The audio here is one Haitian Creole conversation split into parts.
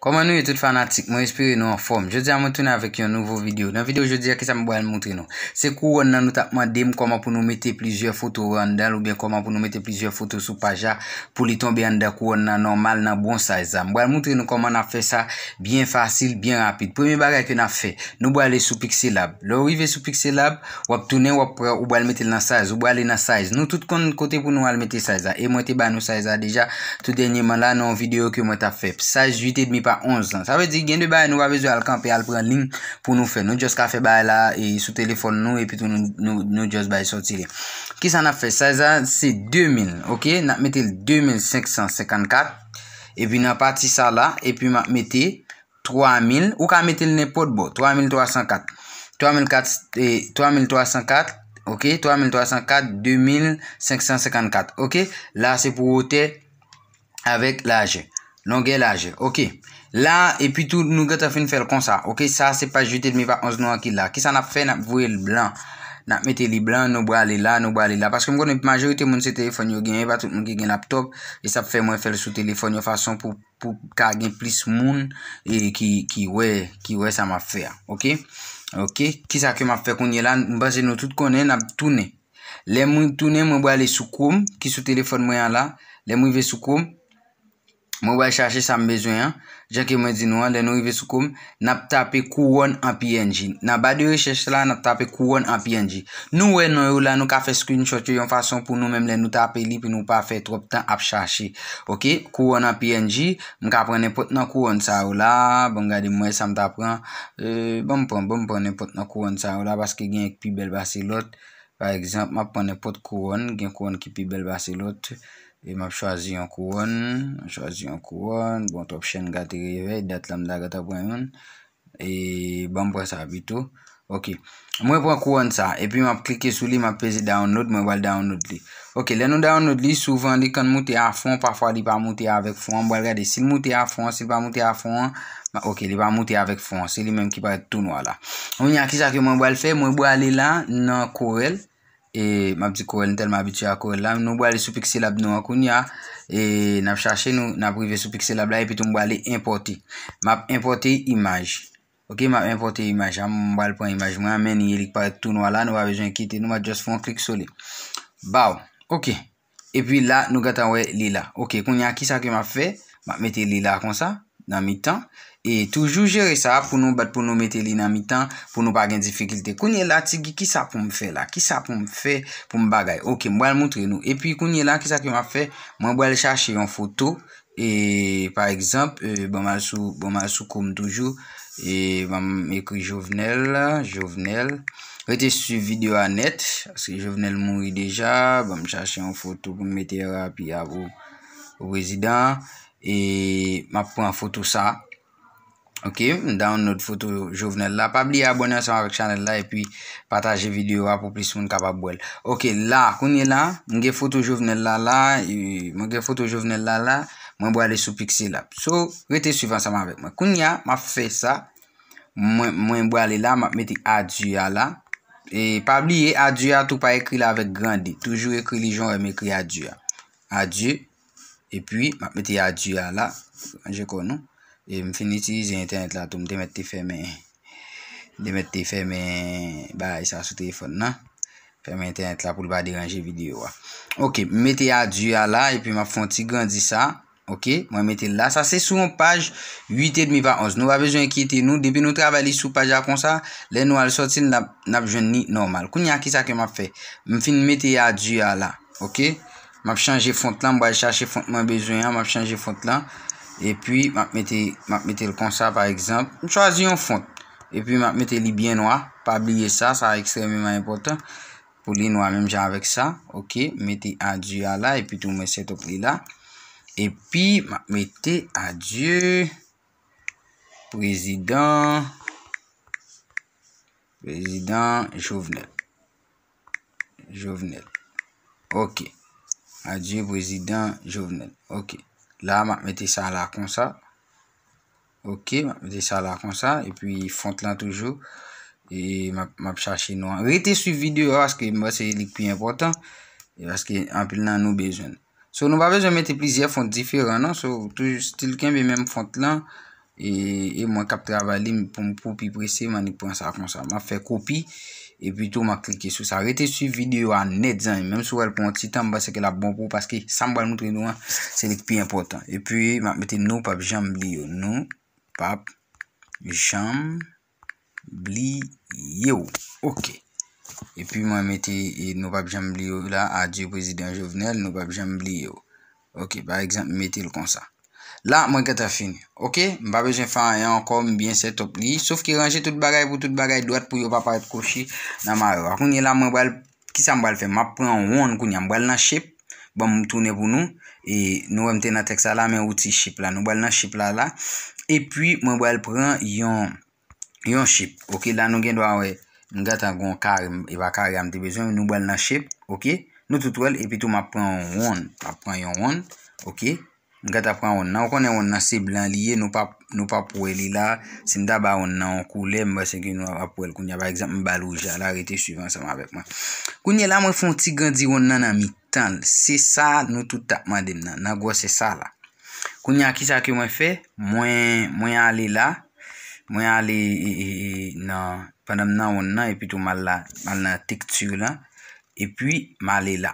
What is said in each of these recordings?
Kòman nou ye tout fanatik mwen espere nou anfòm jodi a mwen tounen avèk yon nouvo video nan video jodi a kisa m pral moutre nou se kouròn nan nou tap mande m kòman pou nou mete plizyè foto anndan l oubyen kòman pou nou mete plizyè foto sou paj la pou li tonbe anndan kouròn nan nòmal nan bon size la m pral moutre nou kòman nap fè sa byen fasil byen rapid premye bagay ke nap fè nou pral ale sou pixelab lè ou rive sou pixelab Wap tounen wap pran ou bal metel nan size ou brale nan size nou tout konn kote pou nou al mete size la e mwen te ba nou size la deja tout dènyeman la nan yon video ke mwen tap fè size 8 et demi pa 11 lan sa vle di gen de bagay nou pa bezwen al kanpe al pran ling pou nou fè nou just ka fè bagay la e sou telefòn nou epi tou nou nou just bay soti li kisa nap fè size la se 2000 ok nap metel 2554 epi nan pati sa la epi map mete 3000, ou ka mete l nenpòt bò, 3304, 3304, ok, 3304, 2554, ok, la se pou wotè avèk lajè, longè lajè, ok, la epi tou nou gèt afin fèl konsa, ok, sa se paj 8 edmi pa 11 nou an ki la, ki sa nap fè nap voye l blan, nap mete li blan, nou brale la, nou brale la, paske m konnen majorite moun se telefòn yo genyen, pa tout moun ki gen laptop, e sa fè mwen fèl sou telefòn yon fason pou. pou ka gen plis moun ki wè ki wè sa map fè a ok ok kisa ke map fè kounye la m panse nou tout konnen nap tounen lè mwen tounen mwen bwa ale sou krom ki sou telefon mwen an la lè mwen ve sou krom mwen bwa chache sa m bezwen an jan ke mwen di nou an lè nou ve sou krom N ap tape Kouwòn an png. Nan ba de rechèch la, n ap tape Kouwòn an png. Nou wè non yo la, nou ka fè screenshot yo yon fason pou nou menm lè nou tape li pou nou pa fè twòp tan ap chache. Ok, Kouwòn an png, m ka pran nenpòt nan Kouwòn sa yo la, ban m gade m wè sa m ta pran. Ban m pran, ban m pran nenpòt nan Kouwòn sa yo la paske gen yon ki pi bèl pase lòt. Pa egzanp, m ap pran nenpòt Kouwòn, gen Kouwòn ki pi bèl pase lòt. E map chwazi yon kouwòn, map chwazi yon kouwòn, bon twòp chen gate revèy, dat la m ta gentan pran youn, e banm pran sa pito, ok, mwen pran kouwòn sa, epi map klike sou li, map peze download, mwen pral download li, ok, lè nou download li, souvan li konn moute a fon, pafwa li pa moute avèk fon an, m pral gade sil moute a fon an, sil pa moute a fon an, ok li pa moute avèk fon an, se li menm ki parèt tou nwa la, kounya kisa ke mwen pral fè, mwen pral ale la nan Corel. E map di korel nou telman abitye a korel la nou brale sou pixelab nou an kounya e nap chache nou nap rive sou pixelab la epi tou m brale enpote map enpote imaj ok map enpote imaj a m bal pran imaj mwen an meni li k parèt tou nwa la nou pa bezwen enkete nou map just fon klik sou li baw ok E pi la nou gentan wè li la. Ok, kounye a kisa ke m ap fè? M ap mete li la konsa, nan mitan. E toujou jere sa pou nou bat pou nou mete li nan mitan pou nou pa gen difikilte. Kounye la, ti Guy, kisa pou m fè la? Kisa pou m fè pou m bagay? Ok, m pral moutre nou. E pi kounye la, kisa ke m ap fè? Mwen pral chache yon foto e pa egzanp bon m al sou bon m al sou kou m toujou e ban m ekri Jovenel Jovenel rete swiv video a nèt paske Jovenel mouri deja ban m chache yon foto pou m mete rapi a pou pou prezidan e m ap pran foto sa Ok, m download foto Jovenel la. Pa bliye abone ansanm avèk chanèl la epi pataje videyo a pou plis moun kapab wèl. Ok, la, kounye la, m gen foto Jovenel la la, m gen foto Jovenel la la, mwen bwale sou Pixelab. So, rete swiv ansanm avèk mwen. Kounye a, m ap fè sa, mwen bwale la, m ap mete adieu a la. E pa bliye adieu a tou pa ekri l avèk grande. Toujou ekri li jan ou wè m ekri adieu a. Adieu. E pi, m ap mete adieu a la. Manje kò nou. E m fin itilize entènèt la tou. M te mèt te fèmen. M te mèt te fèmen bagay sa sou telefòn nan. Fèmen entènèt la pou l pa deranje videyo a. Ok. M mete adieu a la. E pi m ap fè yon ti grandi sa. Ok. Mwen mete l la. Sa se sou yon paj 8 edmi pa 11. Nou pa bezwen enkyete nou. Depi nou travay li sou paj la konsa, lè nou al sòti l, n ap jwenn li nòmal. Kounya kisa ke m ap fè? M fin mete adieu a la. Ok. Map chanje font lan, m pral chache font mwen bezwen an, map chanje font lan, epi map mete, map mete l konsa pa egzanp, m chwazi yon font, epi map mete li byen nwa, pa bliye sa, sa ekstrememan enpòtan, pou li nwa menm jan avèk sa, ok, m mete adye a la, epi tou mwen setup li la, epi map mete adye, prezidan, prezidan Jovenel. Jovenel. Ok. Adieu Prezidan Jovenel. Ok. La map mete sa la konsa. Ok. Map mete sa la konsa. E pi font lan toujou. E map chache nou an. Rete su video aske mwen se li ki pi important. Aske anpil nan nou bezwen. So nou pa bezwen mete plizyè font diferan non, so tou stil kenbe menm font lan, e e mwen kap travay li pou m pou pi prese m'annik pran sa konsa. Map fè kopi e pi tou map klike sou sa. Rete swiv videyo a nèt zanmi m, menm si w wè l pran yon ti tan m panse ke lap bon pou w paske sa m pral moutre nou an se li k pi enpòtan. E pi map mete nou pap janm bliye w, nou pap janm. bliye w ok epi mwen mete nou pap janm bliye w la adye prezidan jovenel nou pap janm bliye w ok pa egzanp m mete l konsa la mwen gentan fini ok m pa bezwen fè anyen ankò m byen sètop li sof ke ranje tout bagay pou tout bagay dwat pou yo pa parèt kwochi nan mare a kounye la mwen pral Kisa m pral fè? M ap pran yon wonn kounye a. M pral nan shape. Ban m tounen pou nou. E nou wè m te nan tèks la la men wouti shape la. Nou pral nan shape la la. E pi mwen pral pran yon shape. Ok la nou gen dwa wè. M gentan gen yon kare. E pa kare a m te bezwen. Nou pral nan shape. Ok. Nou tout wè l. E pi tou m ap pran yon wonn. M ap pran yon wonn. Ok. M gata pran wonn nan. Ou konnen wonn nan se blan li ye, nou pap nou pap wè li la. Si m ta ba wonn nan yon koulè, m panse ke nou ap wè l kounye a. Pa egzanp, m ba l wouj la. La, rete swiv ansanm avèk mwen. Kounye la, mwen fè yon ti grandi wonn nan nan mitan l. Se sa nou tout t ap mande m nan, nan gwosè sa la. Kounye a, ki sa ke mwen fè? Mwen, mwen ale la, mwen ale e, e, e, nan, pandan m nan wonn nan, epi tou m al la, m al nan tekti lan, epi m ale la.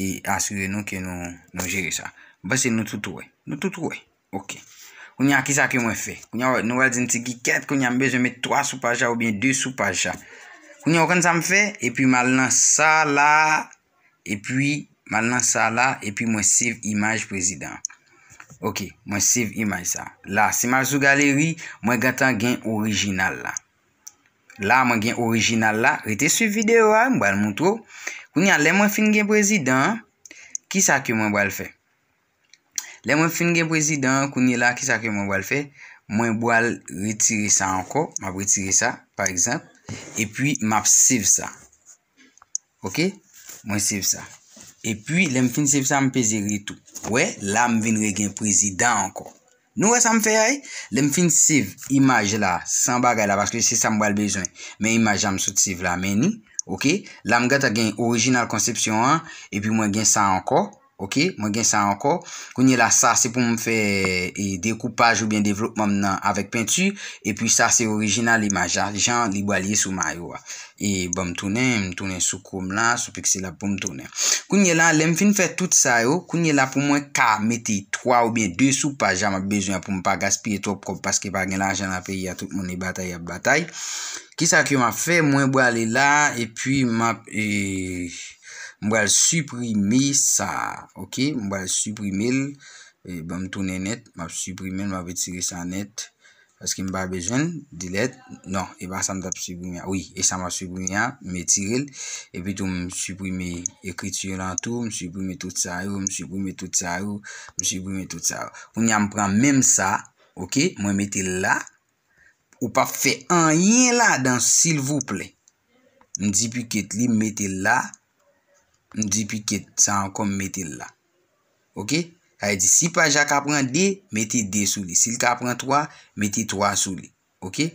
e asire nou ke nou jere sa. M panse nou tout wè. Nou tout wè. Ok. Kounye a, kisa ke mwen fè? Kounye a, nou pral di m ti Guy kèt, kounye a m bezwen met 3 sou paj la oubyen 2 sou paj la. Kounye a, ou konn sa m fè? Epi m al nan sa la, epi m al nan sa la, epi mwen save imaj prezidan an. Ok. Mwen save imaj sa. La, si m al sou galeri, mwen gentan gen orijinal la. La mwen gen orijinal la. Rete swiv video a, mwen bal moutre ou. Kounye a, lè mwen fin gen prezidan an, ki sa ke mwen bal fè? Lè mwen fin gen prezidan an, kounye la, ki sa ke mwen bal fè? Mwen bal retire sa ankò, mwen ap retire sa, pa egzanp, epi mwen ap save sa. Ok, mwen save sa. E pi, lè m fin save sa, m peze retou. Ou wè, la m vin regen prezidan ankò. Nou wè sa m fè a ye? Lè m fin save imaj la, san bagay la, paske se sa m pral bezwen. Men imaj la m sot save la, men ni. Ok, la m gentan gen orijinal konsepsyon an, epi mwen gen sa ankò. Ok mwen gen sa ankò. Kounye la sa se pou m fè dekoupaj oubyen devlopman m nan avèk penti. Epi sa se orijinal imaj la jan li bal ye sou mayo a. E bon m tounen, m tounen sou chrome la, sou pixellab pou m tounen. Kounye la lè m fin fè tout sa yo, kounye la pou mwen ka mete 3 oubyen 2 sou paj la m ap bezwen an pou m pa gaspiye twòp kòb paske pa gen lajan nan peyi a tout moun e batay y ap batay. Kisa ke m ap fè, mwen brale la epi m ap. M pral siprime sa a. Ok. M pral siprime l. Ban m tounen nèt. M ap siprime l. M ap retire sa nèt. Paske m pa bezwen l. Delèt. Non. E pa sa m t ap siprime a. Wi. E sa m ap siprime a. M etire l. E pi tou m siprime ekriti yo lan tou. M siprime tout sa yo. M siprime tout sa yo. M siprime tout sa yo. Kounya m pran menm sa. Ok. Mwen mete l la. Ou pap fè anyen ladan silvouplè. M di piket li m mete l la. M di piket sa ankò m mete l la. Ok? Sa vle di si paj la ka pran 2, mete 2 sou li. Si l ka pran 3, mete 3 sou li. Ok?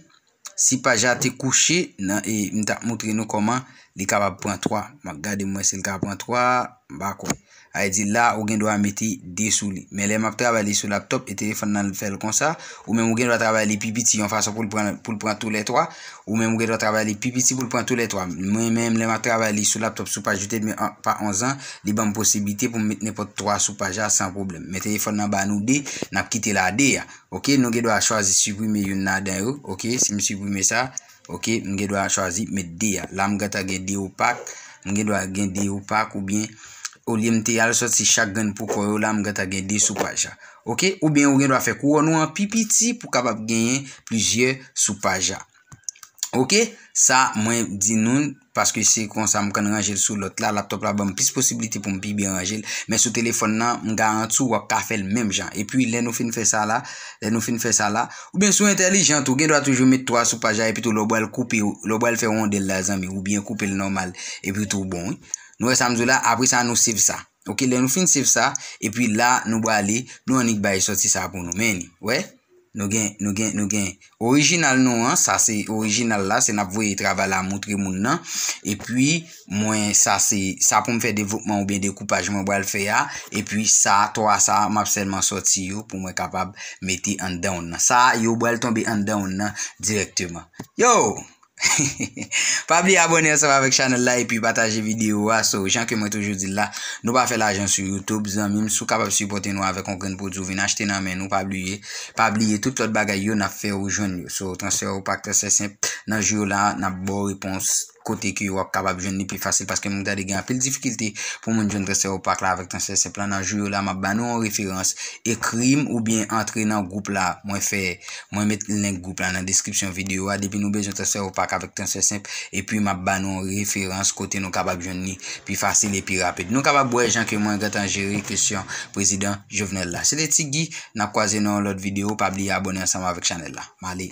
Si paj la te kouche, m tap moutre nou kòman li kapab pran 3. M ap gade m wè si l ka pran 3. M pa kwè. Sa vle di la ou gen dwa mete 2 sou li. Men lè m ap travay li sou laptop e telefòn nan fè l konsa, ou menm ou gen dwa travay li pi piti yon fason pou l pran pou l pran tou lè 3. Ou menm ou gen dwa travay li pi piti pou l pran tou lè 3. Mwen menm lè m ap travay li sou laptop sou paj 8 edmi pa 11 an, li ban m posiblite pou m met nenpòt 3 sou paj la san pwoblèm. Men telefòn nan ba nou 2, n ap kite la 2 a. Ok, nou gen dwa chwazi siprime youn ladan yo. Ok, si m siprime sa. Ok m gen dwa chwazi met 2 a la m gentan gen 2 opak m gen dwa gen 2 opak oubyen olye m te al soti chak grenn pou kò yo la m gentan gen 2 sou paj la ok oubyen ou gen dwa fè kouwòn ou an pi piti pou kapab genyen plizyè sou paj la ok sa mwen di nou paske se konsa m konn ranje l sou lòt la, laptop la banm plis posibilite pou m pi byen ranje l, men sou telefòn nan m garanti w wap ka fè l menm jan, epi lè nou fin fè sa la, lè nou fin fè sa la, oubyen sou entèlijant ou gen dwa toujou met 3 sou paj la epi tou lè w bal koupe lè w bal fè rondèl la zanmi ou byen koupe l nòmal epi tou bon wi, nou wè sa m di w la, apresa nou save sa. Ok lè nou fin save sa epi la nou brale nou annik bay soti sa pou nou meni wè nou gen nou gen nou gen orijinal nou an sa se orijinal la se nap voye travay la moutre moun nan epi mwen sa se sa pou m fè devlopman ou byen de koupaj mwen bral fè a epi sa 3 sa map sèlman soti yo pou mwen kapab mete an dan w nan sa yo bral tonbe an dan w nan direkteman yo Pa bliye abone ansanm avèk chanèl la epi pataje video a so jan ke mwen toujou dil la nou pa fè lajan sou YouTube zanmim si w kapab sipòte nou avèk yon grenn pwodwi w vin achte nan men nou pa bliye pa bliye tout lòt bagay yo nap fè ou jwenn yo so transfè ou pa transfè senp nan jou yo la nap baw repons kote ke wap kapab jwenn li pi fasil paske m gade gen anpil difikilte pou moun jwenn transfè ou pa k la avèk transfè senp lan nan jou yo la map ba nou yon referans ekrim oubyen antre nan gwoup la mwen fè Mwen met link group la nan description video a depi nou bezwen transfer ou pack avèk transfer senp epi map ba nou referans kote nou kapab jwenn li pi fasil e pi rapid nou kapab wè jan ke mwen gentan jere kesyon prezidan Jovenel la se te ti Guy nap kwaze nan yon lòt video pa bliye abone ansanm avèk chanèl la male.